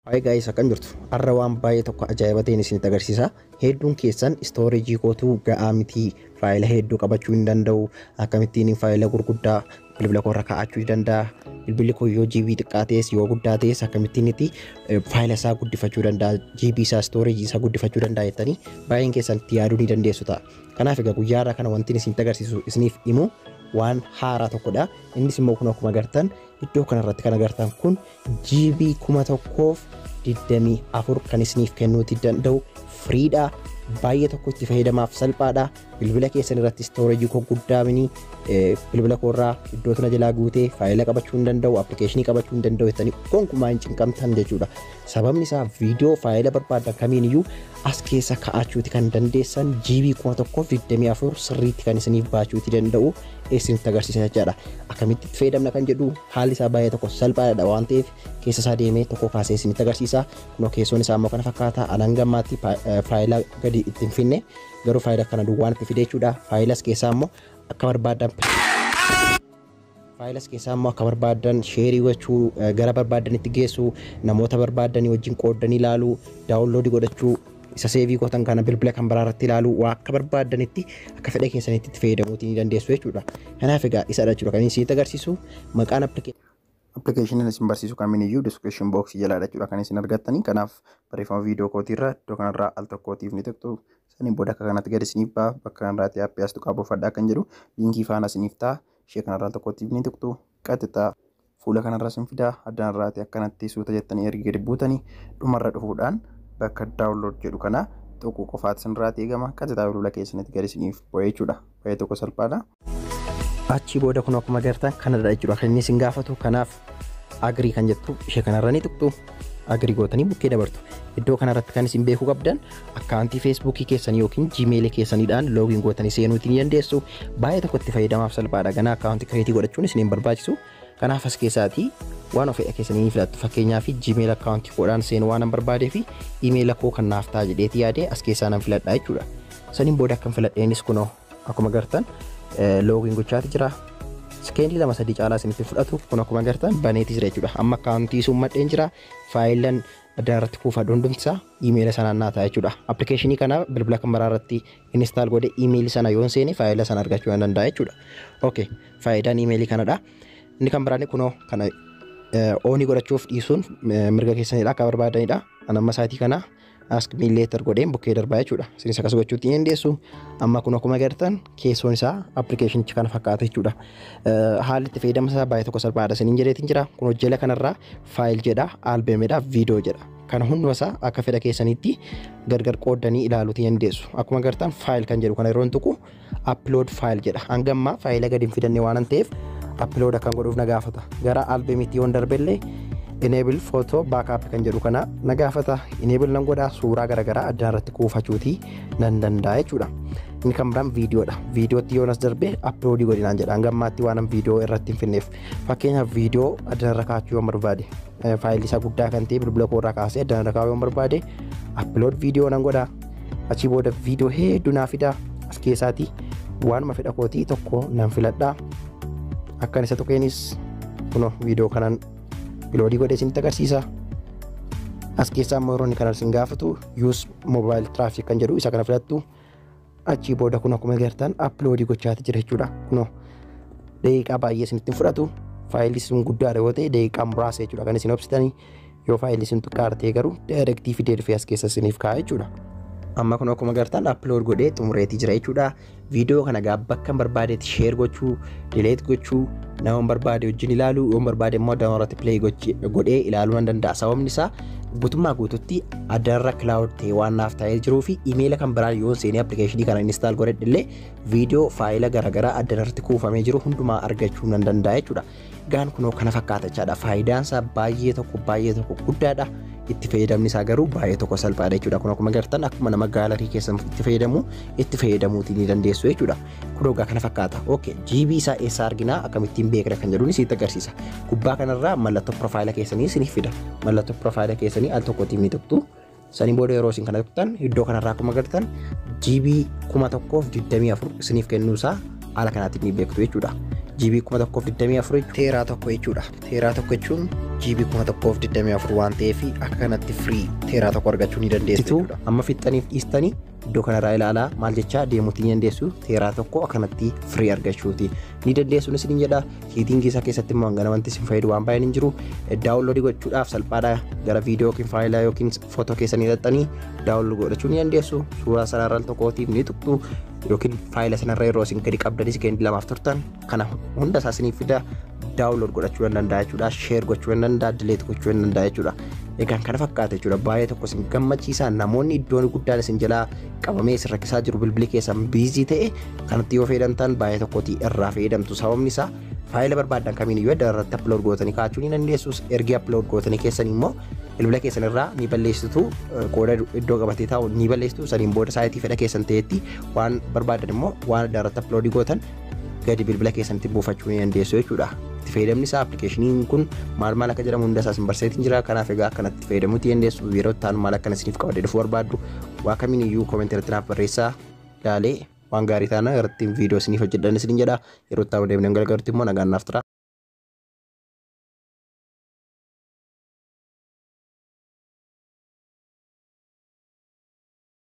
Hi guys akkam jirtu arra waan baay'ee tokko ajaa'iba ta'een isinitti agarsiisa hedduun keessan istoorejii kootu ga'aa miti faayila hedduu qabachuu hin danda'u akkamittiin faayila gurguddaa bilbila koo irra kaa'achuu ni danda'a bilbilli koo yoo GB xiqqaa ta'es yoo guddaa ta'es akkamittiin itti faayila isaa guddifachuu danda'a GB isaa istoorejii isaa guddifachuu danda'a jettanii baay'een keessan itti yaaduu ni dandeessu ta'a kanaaf egaa guyyaa irraa kana wanti isinitti agarsiisu isiniif himu waan haaraa tokkodha innis immoo kun akkuma agartan iddoo kanarratti kan agartan kun GB 1024 kan isiniif kennuuti danda'u firiidha. Baay'ee tokko itti fayyadamaaf salphaadha. Bilbila keessan irratti istoorejii koo guddaa mini bilbila koo irraa iddoo tana jalaa guutee faayila qabachuu hin danda'u, appilikeeshinii qabachuu hin danda'u jettanii gonkumaa hin cinqamtan jechuudha. Sababni isaa viidiyoo faayila barbaaddan kamiin iyyuu as keessa ka'achuuti kan dandeessan GB 1024 sirriitti kan isiniif baachuuti danda'u. isinitti agarsiisa jechaadha. Akkamitti itti fayyadamna kan jedhu haalli isaa baay'ee tokko salphaadha waan ta'eef keessa isaa deemee tokko kaasee isinitti agarsiisa. Kunoo keessoon isaa immoo kana fakkaata. Anan gammaatti faayila gadi itti hin finne garuu faayila kana duwwaan itti fide jechuudha. Faayilas keessaa immoo akka barbaadan faayilas keessaa immoo akka barbaadan sheerii gochuu gara barbaadanitti geessu namoota barbaadanii wajjin qoodanii ilaalu daawunloodii godhachuu isa seevii gootan kana bilbila kan biraa irratti ilaaluu waa akka barbaaddanitti akka fedha keessanitti itti fayyadamuutii ni dandeessu jechuudha. Kanaaf egaa isadha jechuudha kan isin agarsiisu maqaan appilikeeshiniin isin barsiisu kamiiniyyuu description box jalaadha jechuudha kan isin argattanii kanaaf barreeffama viidiyoo kootiirra iddoo kanarraa al tokkootiif ni tuqxu saniin booda akka kanatti gad isiniif ba'a bakka kanarraatti appii as tuqaa buufadhaa kan jedhu liinkii faana isiniif ta'a ishee kanarraa al tokkootiif ni tuqxu qaxxixaa fuula kanarra sin fidaa addanarraati akkanatti suuta jettanii ergi gadi buutanii dhumarra dhufuudhaan bakka download jedhu kana tuquu qofaati sinirraati eegama qajetaa bilbila keessanitti gadi siniif bu'ee jechuudha baay'ee tokko salphaadha. Achii booda kun akkuma gartan kanadha jechuudha kan inni sin gaafatu kanaaf agrii kan jettu ishee kanarra ni tuqxu. agri gootanii bukkee dabartu. Iddoo kanarratti kan isin beekuu qabdan akkaawuntii feesbuukii keessanii yookiin jiimeelii keessaniidhaan loogiin gootanii seenuutiin ni dandeessu. Baay'ee tokkotti fayyadamaaf salphaadha. Ganaa akkaawuntii kireetii godhachuun isin hin barbaachisu. Kanaaf as keessaatii waan ofedha keessanii ni filattu. Fakkeenyaaf jiimeel akkaawuntii koodhaan seenuu waan barbaadee fi imeela koo kan naaf ta'a jedheeti yaadee as keessaa nan filadha jechuudha. Saniin booda akkan filadheenis kunoo akkuma gartan loogiin gochaati jira. Sekendii lama sadii caalaa isinitti fudhatu kun akkuma gartan baneeti jira jechuudha. Amma akkaawuntii sun madheen jira. Faayilan adda irratti kuufaa hundumtisaa iimeela sanaan naa ta'a jechuudha. Appilikeeshinii kana bilbila kan maraa irratti instaal godhe iimeeli sana yoon seene faayila sana argachuu nan danda'a jechuudha. Okay faayidaan iimeelii kanadha. Inni kan biraan kunoo kana oonii godhachuuf dhiisuun mirga keessanidha akka barbaadanidha. Anamma isaatii kana ask me later godheen bukkee darbaa jechuudha. Isinis akkas gochuutti hin dandeessu. Amma kun akkuma agartan keessoon isaa appilikeeshinichi kana fakkaata jechuudha. Haalli itti fayyadama isaa baay'ee tokko salphaadha isiniin jedheetiin jira. Kun hojjela kanarraa faayil jedha, albem jedha, viidiyoo jedha. Kana hunduma isaa akka fedha keessaniitti gargar qooddanii ilaaluutti dandeessu. Akkuma agartan faayil kan jedhu kana yeroo tuqu upload file jedha hanga ammaa faayila gadi hin fidanne waan ta'eef upload akkan godhuuf na gaafata gara albemitti yoon darbellee enable photo backup kan jedhu kana na gaafata enable nan godha suuraa garaagaraa addaan irratti kuufachuuti nan danda'a jechuudha inni kan biraan viidiyoodha viidiyootti yoon as darbe upload godhinaan jedha hanga ammaatti waan viidiyoo irratti hin finneef fakkeenyaaf viidiyoo addaan irra kaachuu yoon barbaade faayilli isaa guddaa kan ta'e bilbila koo irraa kaasee addaan irra kaa'uu barbaade upload viidiyoo nan godha achii booda viidiyoo hedduu naa fida as keessaatii waanuma fedha kootii tokko nan filadha akkan isa tuqeenis kuno viidiyoo kanan uploadii godhee isinitti agarsiisa as keessaa immoo yeroo inni kana isin gaafatu use mobile traffic kan jedhu isa kana filattu achii booda kun akkuma agartan upload gochaati jira jechuudha kunoo daqiiqaa baay'ee isinitti hin fudhatu faayilli sun guddaadha yoo ta'e daqiiqaa muraasa jechuudha kan isin obsitanii yoo faayilli sun xiqqaa ta'e garuu daayirektii fidee dhufee as keessa isiniif kaa'a jechuudha. Amma kun akkuma agartan upload godhee xumureetii jira jechuudha. Viidiyoo kana gaa bakka hin barbaadetti share gochuu, delete gochuu, nama hin barbaade wajjin ilaaluu, yoo hin barbaade immoo download irratti play godhee ilaaluu nan danda'a. Sababni isaa guutummaa guututti addarra cloud ta'e waan naaf taa'ee jiruu fi imeela kan biraan yoon seenee appilikeeshinii kana install godhadhe illee viidiyoo faayila garaagaraa addarratti kuufamee jiru hundumaa argachuu nan danda'a jechuudha. Gaan kunoo kana fakkaata jechaadha. Faayidaan isaa baay'ee tokko baay'ee tokko guddaadha. Itti fayyadamni isaa garuu baay'ee tokko salphaadha jechuudha. Kun akkuma gartan akkuma nama gaalarii keessan itti fayyadamu itti fayyadamuutii ni dandeessu jechuudha. kunoo egaa kana fakkaata. Ok, GB isaa eessaa arginaa akkamittiin beekna kan jedhuun isinitti agarsiisa. Gubbaa kanarraa mallattoo profaayila keessanii isiniif fida. Mallattoo profaayila keessanii al tokkotiin ni tuqxu. Saniin booda yeroo isin kana tuqxan iddoo kanarraa akkuma agartan GB kuma tokkoof digdamii afur isiniif kennuu isaa haala kanaatiin ni beektu jechuudha. GB kuma tokkoof digdamii afur teeraa tokko jechuudha. Teeraa tokko jechuun GB kuma tokkoof digdamii afur waan ta'eef akka kanatti firii teeraa tokko argachuu ni dandeessu jechuudha. Amma fixxaniif dhiistanii iddoo kanarraa ilaalaa maal jechaa deemuutti ni dandeessu teeraa tokko akkanatti firii argachuuti ni dandeessuun isin jedha hiitingii isaa keessatti immoo hangana wanti isin fayyadu waan baay'een hin jiru daawunloodii gochuudhaaf salphaadha gara viidiyoo yookiin faayilaa yookiin footoo keessanii hidhattanii daawunloodii godhachuu ni dandeessu suuraa sanarraa tokkootiif ni tuqxu yookiin faayila sanarra yeroo isin gadi qabdanis gandi lamaaf turtan kana hunda isaa isiniif fida daawunlood godhachuu hin danda'a jechuudha sheer gochuu hin danda'a dileet gochuu hin danda'a jechuudha egaan kana fakkaata jechuudha baay'ee tokko isin gammachiisa namoonni iddoon guddaan isin jalaa qabamee isin rakkisaa jiru bilbili keessan biizii ta'e kanatti yoo fayyadamtan baay'ee tokkotti irraa fayyadamtu sababni isaa faayila barbaadan kamiin iyyuu adda irratti upload gootanii kaa'achuu ni dandeessus ergi upload gootanii keessan immoo bilbila keessan irraa ni balleessitu qooda iddoo qabatee taa'u ni balleessitu saniin booda saayitii fedha keessan ta'etti waan barbaadan immoo waan adda irratti upload gootan gadi bilbila keessanitti buufachuu ni dandeessu jechuudha. Itti fayyadamni isaa appilikeeshiniin kun maal maal akka jedhamu hunda isaa isin barsiiseetiin jira. Kanaaf egaa akkanatti fayyadamuutti dandeessu yeroo itti aanu maal akkana isiniif qabadee dhufuu barbaaddu waa kamiin iyyuu koomentii irratti naaf barreessaa ilaalee waan gaarii taana irratti viidiyoo isiniif hojjedhan isiniin jedha. Yeroo itti aanu deemnee gargaarutti immoo nagaan naaf tura.